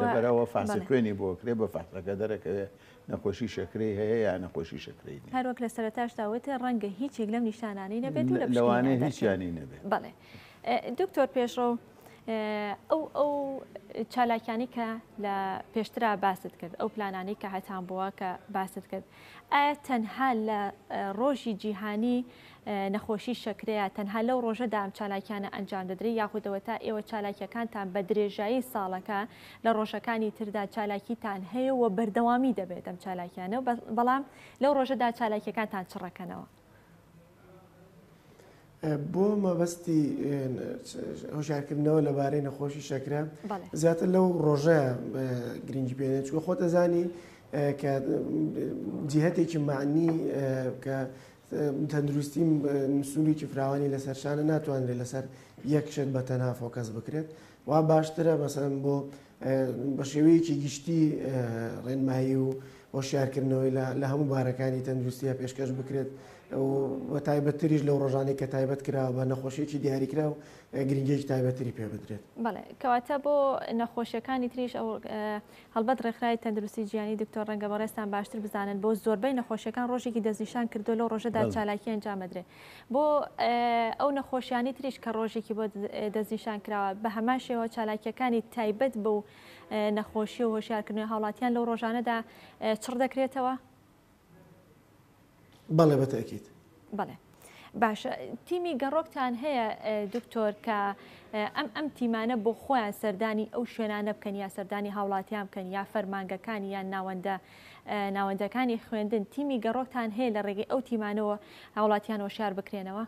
S2: لەبەرئەوە فەحسی خوێنی بۆ ئەکرێت، بە فەحسەکە دەرئەکەوێت نەخۆشی شەکرەی هەیە یان نەخۆشی شەکرەی نییە. هەروەک لە سەرەتاشدا وت،
S1: ڕەنگە هیچ یەک لەم نیشانانەی نەبێت و لە پشکنیندا دەرکەوێت. لەوانەیە هیچیانی
S2: نەبێت. بەڵێ.
S1: دکتۆر پێشڕەو، ئەو ئەو چالاکیانەی کە لە پێشترا باست کرد، ئەو پلانانەی کە هەتانبووە کە باست کرد، ئایا تەنها لە ڕۆژی جیهانی نەخۆشی شەکرەیە، تەنها لەو ڕۆژەدا ئەم چالاکیانە ئەنجام دەدرێت یاخود ئەوەتا ئێوە چالاکیەکانتان بە درێژایی ساڵەکە لە ڕۆژەکانی تردا چالاکیتان هەیە و بەردەوامی دەبێت ئەم چالاکیانە و بەڵام لەو ڕۆژەدا چالاکیەکانتان چڕەکەنەوە؟
S3: بۆ مەبەستی هۆشارکردنەوە لەبارەی نەخۆشی شەکرە زیاتر لەو ڕۆژە گرنگی پێێنێت چوە خۆ دەزانی کە جیهتێکی معنی کە تەندروستی سنوورێکی فراوانی لەسەر شانە ناتوانرێت لەسەر یەک شت بە تەنها فۆکەس بکرێت وا باشترە مەسەن بۆ بە شێوەیەکی گشتی ڕێنمایی و هۆشیارکردنەوەی لە هەموو بارەکانی تەندروستیە پێشکەش بکرێت و تایبەتتریش لەو ڕۆژانەی کە تایبەت کراوە بە نەخۆشیێکی دیاریکرا و گرنگێکی تایبەتری پێ بدرێت بەڵێ کەواتە بۆ
S1: نەخۆشیەکانی تریش ئەو هەڵبەت ڕێکخراوی تەندروستی جیهانی دکتۆر ڕەنگە بەڕێزتان باشتر بزانن بۆ زۆربەی نەخۆشیەکان ڕۆژێکی دەستنیشان کردوە لەو ڕۆژەدا چالاکی ئەنجام ئەدرێ بۆ ئەو نەخۆشیانی تریش کە ڕۆژێکی بۆ دەستنیشان کراوە بەهەمان شێوە چالاکیەکانی تایبەت بەو نەخۆشی و هۆشیارکردنەوەی هاوڵاتیان لەو ڕۆژانەدا چڕ دەکرێتەوە.
S3: بەڵێ بە تەئکید. بەڵێ.
S1: باشە تیمی گەڕۆکتان هەیە دکتۆر کە ئەم ئەم تیمانە بۆ خۆیان سەردانی ئەو شوێنانە بکەن یا سەردانی هاوڵاتیان بکەن یا فەرمانگەکانی یان ناوەندە ناوەندەکانی خوێندن تیمی گەڕۆکتان هەیە لە ڕێگەی ئەو تیمانەوە هاوڵاتیان وەشار بکرێنەوە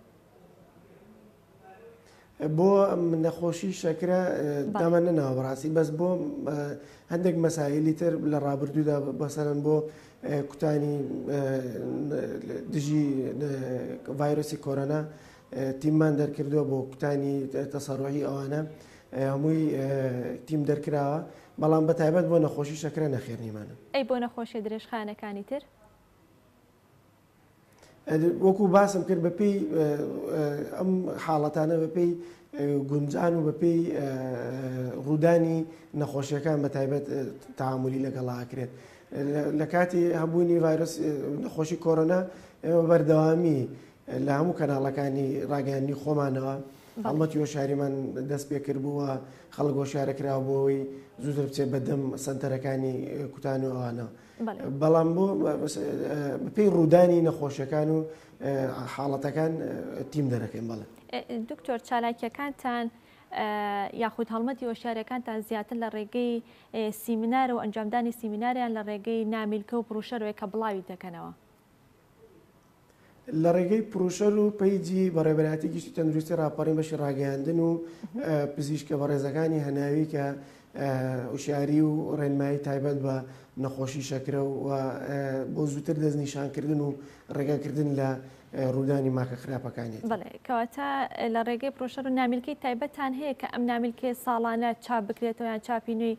S3: بۆ نەخۆشی شەکرە دامە نەناوە بەڕاستی بەس بۆ هەندێک مەساهلی تر لە ڕابردوودا بەسەرن بۆ کوتانی دژی ڤایرۆسی کۆرۆنا تیممان دەرکردووە بۆ کوتانی تەسەڕۆی ئەوانە هەمووی تیم دەرکراوە بەڵام بە تایبەت بۆ نەخۆشی شەکرە نەخێنیمانە ئەی بۆ نەخۆشیە
S1: درێژخانەکانی تر
S3: وەکو باسم کرد بە پێی ئەم حاڵەتانە بە پێی گونجان و بە پێی ڕوودانی نەخۆشیەکان بە تایبەت تعاملی لەگەڵاکرێت لە کاتی هەبوونی ڤایرۆس نەخۆشی کۆرۆنا ئێمە بەردەوامی لە هەموو کەناڵەکانی ڕاگەیانی خۆمانەوە هەڵمەتی هۆشاریمان دەست پێ کردبووە خەڵک هۆشارەکراوە بۆەوەی زووتر بچێت بەدەم سنتەرەکانی کوتان و ئەوانەوە. بەڵام بۆ بەپی ڕوودانی نەخۆشیەکان و حاڵەتەکان تیم دەرەکەین بەڵێ دکتۆر
S1: چالاکیەکانتان یاخود هەڵمەتی هۆشارەکانتان زیاتر لە ڕێگەی سیمینارە و ئەنجامدانی سیمیناریان لە ڕێگەی نامیلکە و بروشەرەوەی کە بڵاوی دەکەنەوە.
S3: لە ڕێگەی پروشەر و پەیجی بە ڕێبەرایەتی گشتی تەندروستی ڕاپەڕین بەشی ڕاگەیاندن و پزیشکە بە ڕێزەکانی هەناوی کە وشاری و ڕێنمایی تایبەت بە نەخۆشی شەکرە و بۆ زووتر دەستنیشانکردن و ڕێگەکردن لە ڕوودانی ماکە خراپەکانی کەواتە
S1: لە ڕێگەی پرۆشەر و نامیلکەی تایبەتان هەیە کە ئەم نامیلکەیە ساڵانە چاپ بکرێتەوە یان چاپی نوێی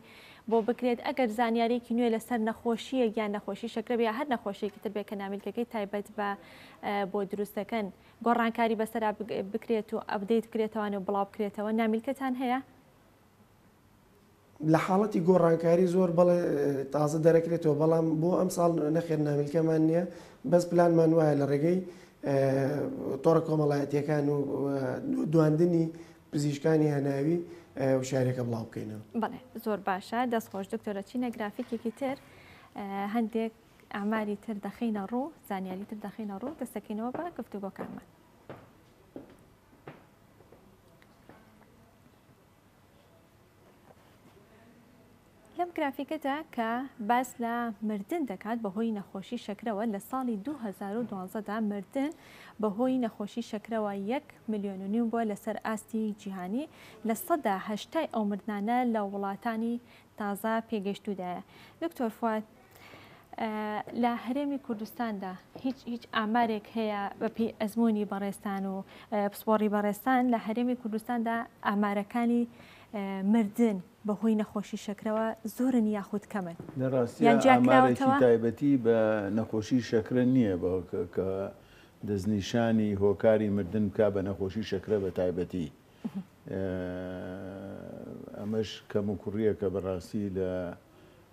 S1: بۆ بکرێت، ئەگەر زانیارییەکی نوێ لەسەر نەخۆشییەک یان نەخۆشی شەکرە بێ یا هەر نەخۆشییەکی تر بێ کە نامیلکەکەی تایبەت بە بۆ دروست دەکەن گۆڕانکاری بەسەرا بکرێت و ئەپدەیت بکرێتەوان و بڵاو بکرێتەوە نامیلکەتان هەیە؟
S3: لە حاڵەتی گۆڕانکاری زۆر بەڵێ تازە دەرەکرێتەوە بەڵام بۆ ئەمساڵ نەخێر نامیلکەمان نییە بەس پلانمان وایە لە ڕێگەی تۆڕە کۆمەڵایەتیەکان و دواندنی پزیشکانی هەناوی وشارەکە بڵاو بکەینەوە. بەڵێ زۆر باشە
S1: دەست خۆش دکتۆرە چینە گرافیکێکی تر هەندێک ئاماری تر دەخینە ڕوو زانیاری تر دەخینە ڕوو دەستەکەینەوە بە گفتوگۆکانمان. لەم گرافیکەدا کە باس لە مردن دەکات بەهۆی نەخۆشی شەکرەوە، لە ساڵی دوو هەزار و دوازدە دا مردن بەهۆی نەخۆشی شەکرەوە یەک ملیۆن و نیو بووە لەسەر ئاستی جیهانی، لە سەدا هەشتای ئەو مردنانە لە وڵاتانی تازە پێگەیشتوودایە. دکتۆر فواد. لە هەرێمی کوردستاندا هیچ هیچ ئامارێک هەیە بەپی ئەزمموی بەڕێستان و پسپۆڕی بەڕێستان لە هەرێمی کوردستاندا ئامارەکانی مردن بەهۆی نەخۆشی شەکرەوە زۆرن یاخود کەمن لەڕاستیانجیاکراوەتەوە
S2: تایبەتی بە نەخۆشی شەکرە نییە بە کە دەستنیشانی هۆکاری مردن بکە بە نەخۆشی شەکرە بە تایبەتی ئەمەش کەم و کوڕیەکە بەڕاستی لە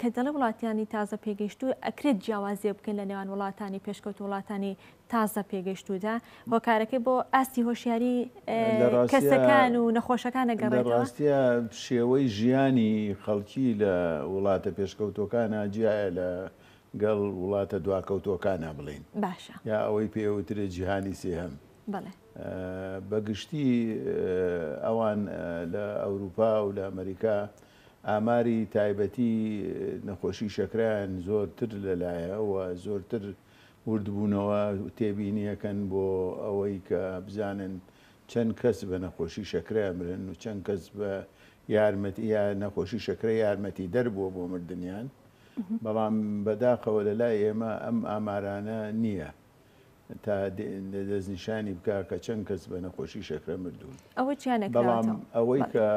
S1: کە دەڵێ وڵاتانی تازە پێگەیشتوو ئەکرێت جیاوازیە بکەین لە نێوان وڵاتانی پێشکەوت وڵاتانی تازە پێگەیشتوودا هۆکارەکەی بۆ ئاستی هۆشیاری کەسەکان و نەخۆشەکانە گەڕێت ڕاستە
S2: شێوەی ژیانی خەڵکی لە وڵاتە پێشکەوتەکانە جیایە لە گەڵ وڵاتە دواکەوتەکانە بڵین باشە یا ئەوەی
S1: پێوترێ
S2: جیهانی سێهەم بەگشتی ئەوان لە ئەوروپا و لە ئەمریکا ئاماری تایبەتی نەخۆشی شەکرەیان زۆرتر لەلایە و زۆرتر وردبوونەوە تێبینیەکەن بۆ ئەوەی کە بزانن چەند کەس بە نەخۆشی شەکرە ئەمرن و چەند کەس بە یارمەتی یا نەخۆشی شەکرە یارمەتیدەر بووە بۆ مردنیان بەڵام بەداخەوە لەلای ئێمە ئەم ئامارانە نییە تا دەستنیشانی بکا کە چەند کەس بە نەخۆشی شەکرە مردوون. بەڵام ئەوەی کە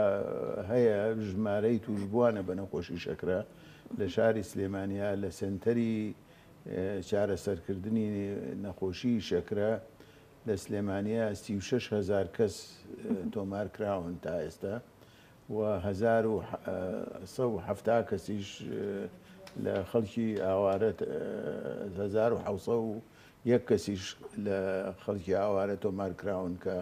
S2: هەیە ژمارەی تووشبووانە بە نەخۆشی شەکرە لە شاری سلێمانییە لە سەنتەری چارەسەرکردنی نەخۆشی شەکرە لە سلێمانییە سی و شەش هەزار کەس تۆمارکراون تا ئێستا. و هەزار و سەد و حەفتا کەسیش لە خەڵکی ئاوارە هەزار و حەوت سەد و یەک کەسیش لە خەڵکی ئاوارە تۆمارکراون کە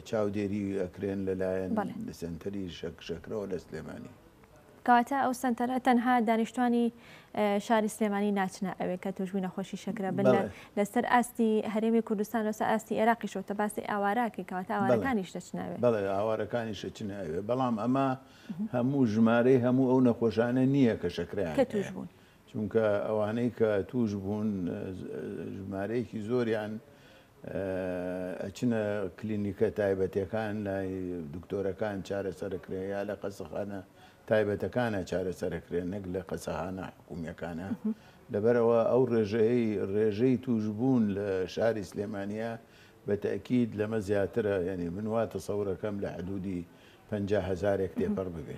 S2: چاودێری ئەکرێن لەلایەن سەنتەری شەکرەوە لە سلێمانی. کەواتە ئەو
S1: سەنتەرە تەنها دانیشتوانی شاری سلێمانی ناچنە ئەوێ کە توشبوی نەخۆشی شەکرە بن لەسەر ئاستی هەرێمی کوردستان لەسەر ئاستی عێراقی شۆتە باسی ئاوارەکەی کەواتە ئاوارەکانیش دەچناوێ بەڵێ ئاوارەکانیش
S2: دەچناوێ بەڵام ئەمە هەموو ژمارەی هەموو ئەو نەخۆشانە نییە کە شەکرەیان کە توشبوون
S1: چونکە ئەوانەی
S2: کە تووش بوون ژمارەیەکی زۆریان ئەچنە کلینیکە تایبەتەکان لای دکتۆرەکان چارەسەرکرێن یا لە قەسەخانە تایبەتەکانە چارەسەرکرێن نەک لە قەسەهانە حکومیەکانە لەبەرەوە ئەو ڕێژەی ڕێژەی توشبوون لە شاری سلێمانە بە تاکیید لەمە زیاترە یعنی من وا تەسەورەکەم لە حدودی پەنجا هەزارێک تێپەڕ ببێ.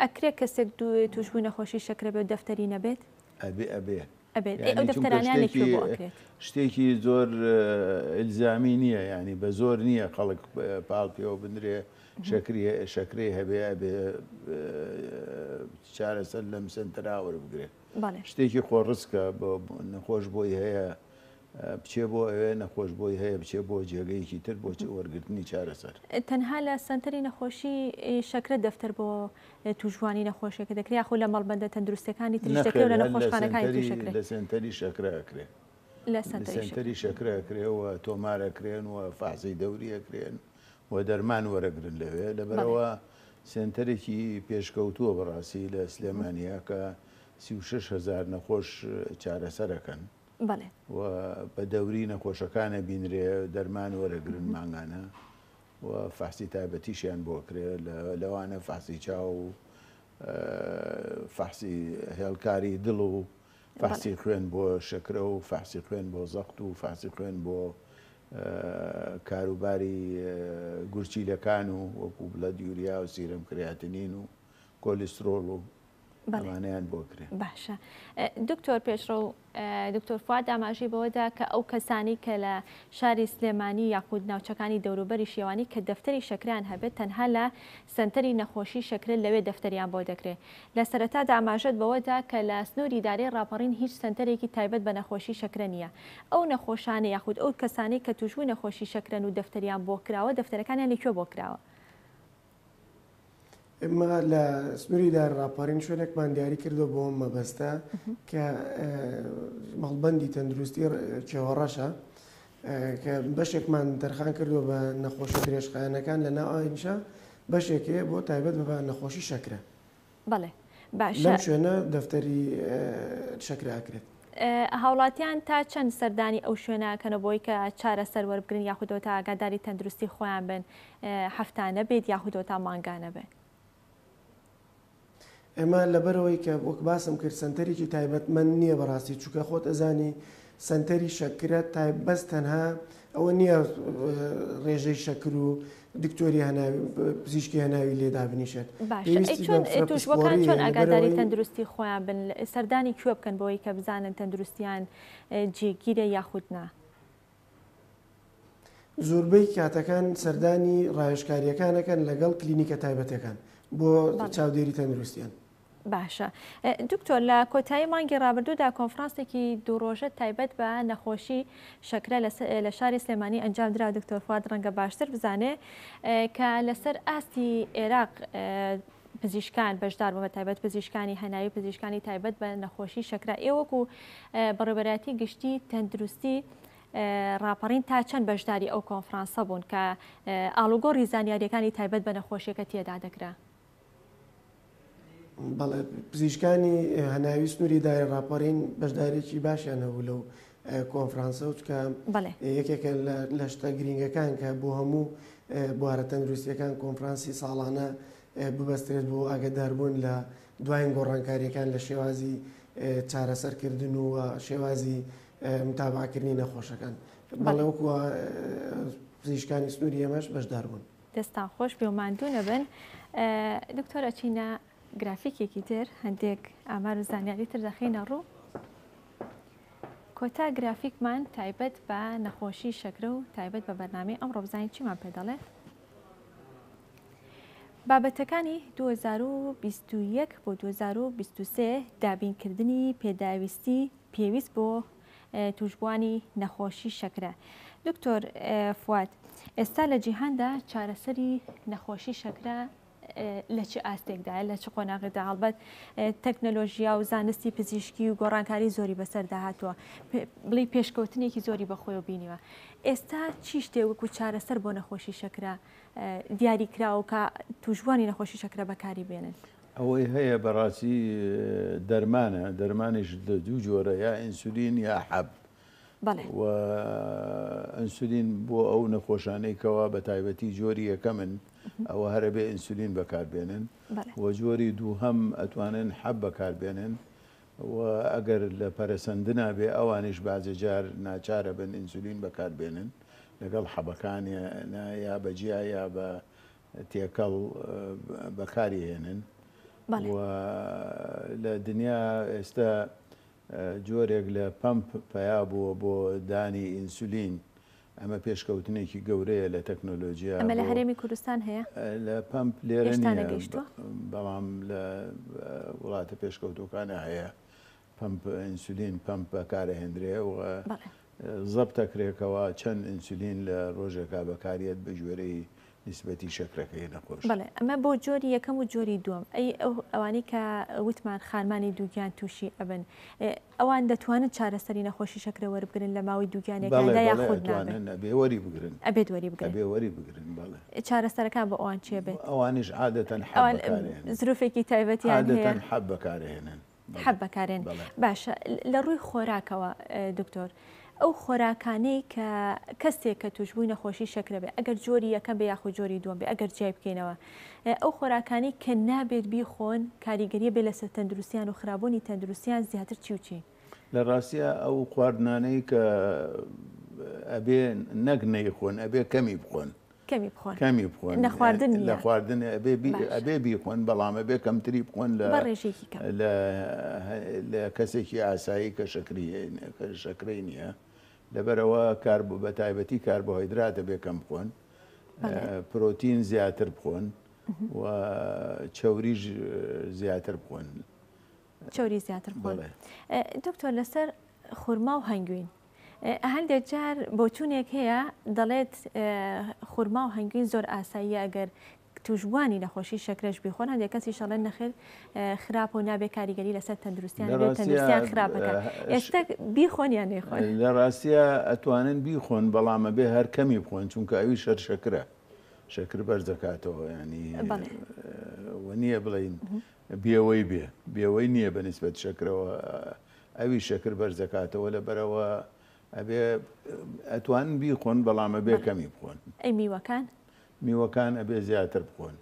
S2: ئەکرێ کەسێک
S1: تووشبووی نەخۆشی شەکرە بێ و دەفتەری نەبێت؟ ئەبێ ئەبێ. ئەبێت. ئەی ئەو دەفتەرانە لە کوێ بۆ ئەکرێت؟ شتێکی زۆر
S2: ئیلزامی نییە، یانی بە زۆر نییە خەڵک پاڵ پێوە بنرێ شەکری شەکرەی هەبێ ئەبێ چارەسەر لەم سەنتەرا وەربگرێ. شتێکی خۆڕسکە بۆ نەخۆش بۆی هەیە بچێ بۆ ئەوێ نەخۆش بۆی هەیە بچێ بۆ جێگەیەکی تر بۆ وەرگرتنی چارەسەر. تەنها لە سەنتەری
S1: نەخۆشی شەکرە دەفتەر بۆ توشبوانی نەخۆشیەکە دەکرێ یاخو لە مەڵبەندە تەندروستەکانی تریش دەکرێ و لە نەخۆشخانەکانی تریش دەکرێ؟ نەخێر هەر لە سەنتەری شەکرە
S2: ئەکرێ. لە
S1: سەنتەری شەکرە
S2: ئەکرێ و تۆمار ئەکرێن و فەحسی دەوری ئەکرێن و دەرمان وەرەگرن لەوێ لەبەرئەوە سەنتەرێکی پێشکەوتووە بەڕاستی لە سلێمانیە کە سی و شەش هەزار نەخۆش چارەسەر ئەکەن. بەڵێ. و بە دەوری نەخۆشەکان ئەبینرێ دەرمان وەرەگرن مانگانە و فەحسی تایبەتیشیان بۆ ئەکرێ لەوانە فەحسی چاو و فەحسی هێڵکاری دڵ و فەحسی خوێن بۆ شەکرە و فەحسی خوێن بۆ زەخت و فەحسی خوێن بۆ کاروباری گورچیلەکان و وەکو بڵە دیوریا و سیرم کریاتنین و کۆلیسترۆڵ و ئەمانەیان بۆ کرێ. باشە
S1: دکتۆر پێشڕەو دکتۆر فواد داماژی بەوەدا کە ئەو کەسانی کە لە شاری سلێمانی یاخود ناوچەکانی دەوروبەری شێوانی کە دەفتەری شەکریان هەبێت تەنها لە سنتەری نەخۆشی شەکرە لەوێ دەفتەریان بۆ دەکرێت لە سەرەتا داماژەت بەوەدا کە لە سنووری دارێ ڕاپەڕین هیچ سنتەرێکی تایبەت بە نەخۆشی شەکرە نییە ئەو نەخۆشانە یاخود ئەو کەسانی کە توشبووی نەخۆشی شەکرەن و دەفتەریان بۆ کراوە دەفتەرەکانیان لەکوێ بۆ کراوە؟
S3: ئێمە لە سنووری دار ڕاپەڕین شوێنێکمان دیاری کردو بۆم مەبەستە کە مەڵبندی تەندروستی چێوەڕەشە کە بەشێکمان دەرخان کردو بە نەخۆشی درێژخایەنەکان لە ناوئینشا بەشێکێ بۆ تایبەت بە نەخۆشی شەکرە بەڵێ
S1: باشە. لەم شوێنە دەفتەری
S3: شەکرە ئەکرێت. هاوڵاتیان
S1: تا چەند سەردانی ئەو شوێنە ئەکەن بۆی کە چارە سەر وەربگرن یاخودەوە تا ئاگاداری تەندروستی خۆیان بن هەفتانە بێت یاخودەوە تا مانگانە بێت.
S3: ئێمە لەبەرەوەی کە وەک باسم کرد سەنتەرێکی تایبەتمەند نییە بەڕاستی چووکە خۆت ئەزانی سەنتەری شەکرە تایب بەس تەنها ئەوە نییە ڕێژەی شەکر و دکتۆری پزیشکی هەناوی لێ دابنیشێت چۆن
S1: ئەگاداری تەندروستی خۆیان بن سەردانی کوێ بکەن بۆی کە بزانن تەندروستیان جێگیرە یاخودنا.
S3: زۆربەی کاتەکان سەردانی ڕایشکاریەکانەکەن لەگەڵ کلینیکە تایبەتەکان بۆ چاودێری تەندروستیان باشە
S1: دکتۆر لە کۆتایی مانگی ڕابردوودا کۆنفرانسێکی دوو ڕۆژە تایبەت بە نەخۆشی شەکرە لە شاری سلێمانی ئەنجام درا دکتۆر فواد ڕەنگە باشتر بزانێ کە لەسەر ئاستی عێراق پزیشکان بەشدار بە تایبەت پزیشکانی هەناوی پزیشکانی تایبەت بە نەخۆشی شەکرا ئێوەکو بەڕێبەراتی گشتی تەندروستی ڕاپەڕین تا چەند بەشداری ئەو کۆنفرانسە بوون کە ئالوگۆڕی زانیاریەکانی تایبەت بە نەخۆشیەکە تێدا دەکرا
S3: بەڵێ پزیشکانی هەناوی سنووری داری ڕاپەڕین بەشدارێکی باشیان هەبوو لەو کۆنفرانسە و چکە یەکێکە لە شتە گرینگەکان کە بۆ هەموو بوارە تەندروستیەکان کۆنفرانسی ساڵانە ببەسترێت بۆ ئاگداربوون لە دوایین گۆڕانکاریەکان لە شێوازی چارەسەرکردن و شێوازی متابعکردنی نەخۆشەکان بەڵێوەکووە پزیشکانی سنووری ئێمەش بەشدار بوون. دەستتان خۆش بێ و
S1: ماندوو نەبن. دکتۆر ئەچینە گرافیکێکی تر هەندێک ئامار و زانیاری تر دەخینە ڕوو. کۆتا گرافیکمان تایبەت بە نەخۆشی شەکرە و تایبەت بە بەرنامەی ئەم ڕۆبزانین چیمان پێ دەڵێت؟ بابەتەکانی 2021 بۆ 2023 دابینکردنی پێداویستی پێویست بۆ توشبوانی نەخۆشی شەکرە دکتۆر فواد ئێستا لە جیهاندا چارەسەری نەخۆشی شەکرە لە چ ئاستێکدا لە چ قۆناغدا هەڵبەت تەکنەلۆژیا و زانستی پزیشکی و گۆڕانکاری زۆری بەسەردا هاتووە بڵی پێشکەوتنێکی زۆری بەخۆی و بینیوە ئێستا چی شتێ وەکو چارەسەر بۆ نەخۆشی شەکرە دیاری کراوکە توشبوانی نەخۆشی شەکرە بەکاری بێنن ئەوەی هەیە
S2: بەڕاستی دەرمانە دەرمانیش لە دوو جۆرە یا ئینسولین یا حەب و ئەنسولین بۆ ئەو نەخۆشانەی کەوا بە تایبەتی جۆری یەکە من ئەوە هەرە بێ ئینسولین بەکاربێنن و جۆری دوو هەم ئەتوانن حەب بەکاربێنن و ئەگەر لە پەرسەندنا بێ ئەوانیش بازێجار ناچارە بن ئینسولین بەکاربێنن لەگەڵ حەبەکانیان یا بەجیا یا بە تێکەڵ بەکاری هێنن و لە دنیا ئێستا جۆرێک لە پەمپ پەیا بووە بۆ دانی ئینسولین ئەمە پێشکەوتنێکی گەورەیە لە تەکنۆلۆژیا ئەمە لە هەرێمی کوردستان
S1: هەیە لە پمپ
S2: لێرەشتانە گەیشتوە بەڵام لە وڵاتە پێشکەوتەکانە هەیە پەمپ ئینسولین پەمپ بەکارئەهێندرێ و بەڵێ. زەبتەکرێ کەوا چەند ئینسولین لە رۆژێکا بەکاریەت بە گوێرەی نیسبەتی شەکرەکەی نەخۆش. بەڵێ ئەمە بۆ جۆری
S1: یەکەم و جۆری دووەم ئەی ئەو ئەوانەی کە وتمان خارمانی دووگیان تووشی ئەبن ئەوان دەتوانن چارەسەری نەخۆشی شەکرە وەربگرن لە ماوەی دووگیانێکاندا یاخود نابێ؟ بەڵێ بەڵێ ئەتوانن ئەبێ وەری بگرن.
S2: ئەبێت وەری بگرن. ئەبێ
S1: وەری بگرن
S2: بەڵێ. چارەسەرەکان بۆ ئەوان
S1: چی ئەبێت؟ ئەوانیش عادەتەن حەب
S2: بەکارئەهێنن. زروفێکی تایبەتیان هەیە؟
S1: عادەتەن حەب بەکارئەهێنن.
S2: حەب بەکارێن
S1: باشە لە ڕووی خۆراکەوە دکتۆر ئەو خۆراکانەی کە کەسێک کە توشبووی نەخۆشی شەکرە بێ ئەگەر جۆری یەکە بێ یاخود جۆری دووەم بێ ئەگەر جیای بکەینەوە ئەو خۆراکانی کە نابێت بیخۆن کاریگەریە بێ لەسەر تەندروستیان و خراببوونی تەندروستیان زیاتر چیوچی لە ڕاستە ئەو
S2: خواردنانەی
S1: کە
S2: ئەبێ نەک نەیخۆن ئەبێ کەمی بخۆن کەمی بخۆن کەمی بخۆن لە خواردن لە خواردن ئەبێ بیخۆن بەڵام ئەبێ کەمتری بخۆن لە ڕێژێکی لە کەسێکی ئاسایی کە شەکری شەکرەی نییە لەبەرەوە کار بوو بە تایبەتی کار بۆ هەیدراتە بێ کەم بخۆن پرۆتین زیاتر بخۆن و چەوریش زیاتر بخۆن چەوری
S1: زیاتر خۆن بەڵێ. ئە، دکتۆر لەسەر خورما و هەنگوین ئە، هەندێک جار بۆچوونێک هەیە دەڵێت ئە، خورما و هەنگوین زۆر ئاساییە ئەگەر تووشبووانی نەخۆشی شەکرەش بیخۆن هەندێک کەسیش ئەڵێن نەخێر ئە، خراپە و نابێ کاریگەری لەسەر تەندروستیان لە هەبێت ڕاستیا تەندروستیان خراپ ئە، ئەکات ئێش ئێستا بیخۆن یان نەیخۆن؟ لە ڕاستیا
S2: ئەتوانن بیخۆن بەڵام ئەبێ هەر کەمی بخۆن چونکە ئەویش هەر شەکرە شەکر بەرز دەکاتەوە یانی بەڵێ. ئە، وە نییە بڵێین بێوەی بێ بێوەی نیە بە نیسبەت شەکرەوە ئەوی شەکر بەرزەکاتەوە لە بەرەوە ئەبێ ئەتوان بیخۆن بەڵام ئەبێ کەمی بخۆن ئەی میوەکان
S1: میوەکان
S2: ئەبێ زیاتر بخۆن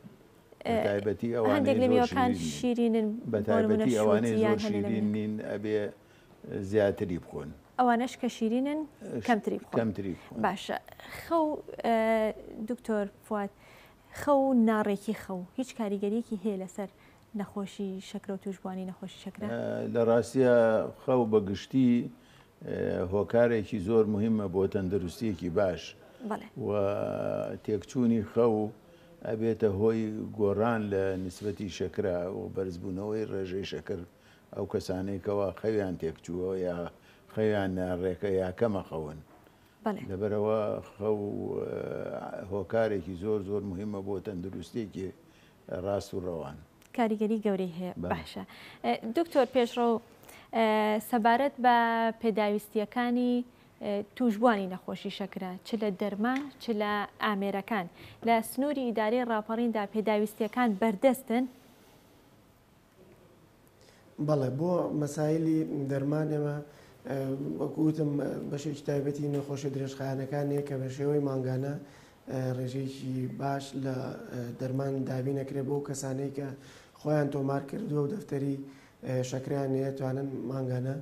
S2: تایبەتی ئەوان
S1: شیرینن بە تایبەتی
S2: ئەوانەی زۆر شیرین نین ئەبێ زیاتری بخۆن ئەوانش کە شیرینن
S1: کەمتری کەمتری باشە خەو دکتۆر فات خەو و ناڕێکی خەو هیچ کاریگەریەکی هەیە لەسەر نەخۆشی شەکرە و توشبوانی نەخۆشی شەکرە؟ لە ڕاستیا
S2: خەو بە گشتی هۆکارێکی زۆر مهمە بۆ تەندروستیەکی باش و تێکچوونی خەو ئەبێتە هۆی گۆڕان لە نسبەتی شەکرە و بەرزبوونەوەی ڕێژەی شەکر ئەو کەسانەی کەوا خەویان تێکچووە یا خەویان ناڕێکە یا کەمە خەون بەڵێ. لەبەرئەوە خەو هۆکارێکی زۆر زۆر موهیمە بۆ تەندروستیەکی ڕاست و ڕەوان. کاریگەری گەورەی
S1: هەیە باشە دکتۆر پێشڕەو سەبارەت بە پێداویستیەکانی توشبوانی نەخۆشی شەکرە چ لە دەرمان چ لە ئامێرەکان لە سنوری ئیدارەی ڕاپەڕیندا پێداویستیەکان بەردەستن؟
S3: بەڵێ بۆ مەسایلی دەرمان ئێمە وەکوتم بەشێکی تایبەتی نەخۆشە درێژخانەکان هەیە کە بە شێوەی مانگانە ڕێژەیەکی باش لە دەرمان دابین نەکرێت بۆ کەسانەی کە خۆیان تۆمار کردووە و دەفتەری شەکریان هەیە توانن مانگانە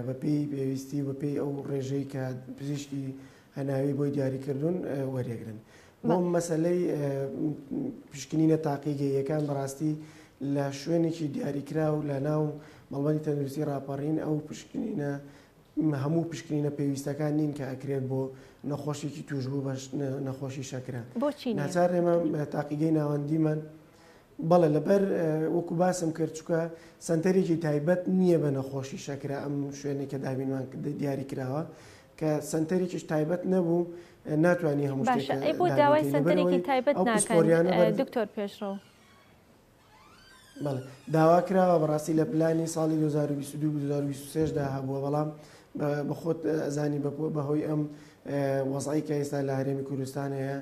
S3: بە پێی پێویستی و بە پێی ئەو ڕێژەی کە پزیشکی هەناوی بۆی دیاری کردوون وەریەگرن. بۆ مەسلەی پشکنینە تاقیگەیەکان بەڕاستی لە شوێنێکی دیاریکرا و لە ناو مەڵبەندی تەندروستی ڕاپەڕین ئەو پشکنینە هەموو پشکنینە پێویستەکان نین کە ئەکرێت بۆ نەخۆشێکی توشبوو بەش نەخۆشی شەکرە بۆچی ناچار ئێمە تاقیگەی ناوەندیمان بەڵێ لەبەر وەکو باسم کرد چونکە سەنتەرێکی تایبەت نییە بە نەخۆشی شەکرە ئەم شوێنێک کە دابینمان دیاری کراوە کە سەنتەرێکیش تایبەت نەبوو ناتوانانی هەموو باشە ئەی بۆ داوای
S1: سەنتەرێکی تایبەت ناکەن دکتۆر پێشڕەوە
S3: داوا کراوە بەڕاستی لە پلانی ساڵی 2022 دا هەبووە بەڵام بەخۆت ئەزانی بەهۆی ئەم وەزعی کە ئێستا لە هەرێمی کوردستان هەیە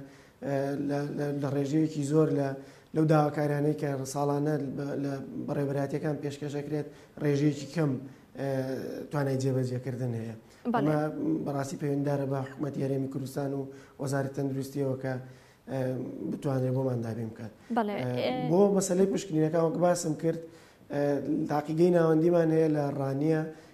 S3: لە ڕێژەیەکی زۆر لە لەو داواکارانەی کە ساڵانە لە بەڕێبراتەکان پێشکەشەکرێت ڕێژەیەکی کەم توانای جێبەجێکردن هەیە بەڕاستی پەیوەنددارە بە حکوومەت یارێمی کوردستان و وەزاری تەندروستیەوە کە بتوانێت بۆمان دابێ بکات بۆ مەسلەی پشکنینەکان وەک باسم کرد تاقیگەی ناوەندیمان هەیە لە ڕانیە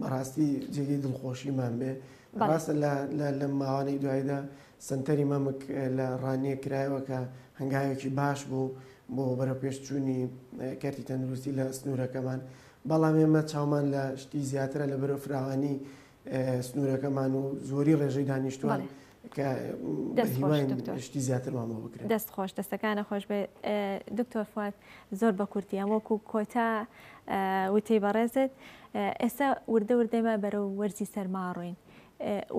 S3: بەڕاستی جێگەی دڵخۆشیمان بێ ڕاستە لە ماوانەی دوایدا سنتەری مەمک لە ڕانیە کرایەوە کە هەنگاوێکی باش بوو بۆ بەرەپێشچوونی کەرتی تەندروستی لە سنوورەکەمان بەڵام ئێمە چاومان لە شتی زیاترە لە بەرەو فراوانی سنوورەکەمان و زۆری ڕێژەی دانیشتوان دەست خۆش دەستەکانە
S1: خۆش بێ دکتۆر فات زۆر بە کورتی ئەم وەکو کۆتا وتەی بەڕێزت ئێستا وردە وردەمە بەرەو وەرزی سەرماڕۆین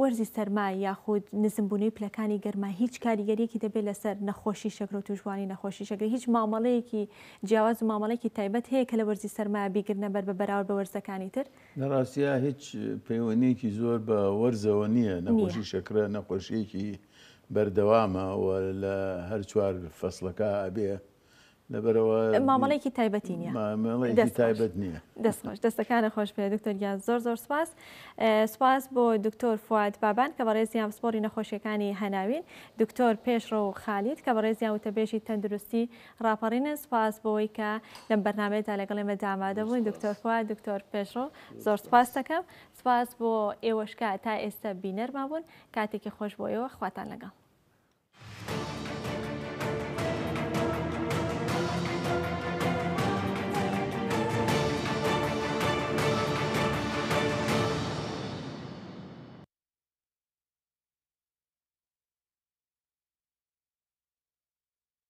S1: وەرزی سەرما یاخود نزمبوونەی پلەکانی گەرما هیچ کاریگەریەکی دەبێت لەسەر نەخۆشی شەکرۆ توشبووانی نەخۆشی شەکری هیچ مامەڵەیەکی جیاواز و مامەڵێکی تایبەت هەیە کە لە وەرزی سەرما بیگرنە بەر بە بەراورد بە وەرزەکانی تر لە ڕاستیا هیچ
S2: پەیوەندیەکی زۆر بە وەرزەوە نییە نەخۆشی شەکرە نەخۆشیەکی بەردەوامە و لە هەر چوار فەسلەکە ئەبێ لەبەرەوە مامەڵێکی
S1: تایبەتی نیە مامەڵێکی تایبەت
S2: نییە دەستخۆش دەستەکانە
S1: خۆش پێ دکتۆر گیان زۆر زۆر سپاس سپاس بۆ دکتۆر فواد بابان کە بەڕێزیان پسپۆری نەخۆشیەکانی هەناوین دکتۆر پێشڕە و خالیت کە بەڕێزیان وتەبێژی تەندروستی ڕاپەڕینن سوپاس بۆوەی کە لەم بەرنامەیەدا لەگەڵ ئێمە دا ئامادە بوون دکتۆر فواد دکتۆر پێشڕۆ زۆر سوپاس دەکەم سوپاس بۆ ئێوەش کە تا ئێستە بینەرمان بوون کاتێکی خۆش بۆ ئێوە خواتان لەگەڵ.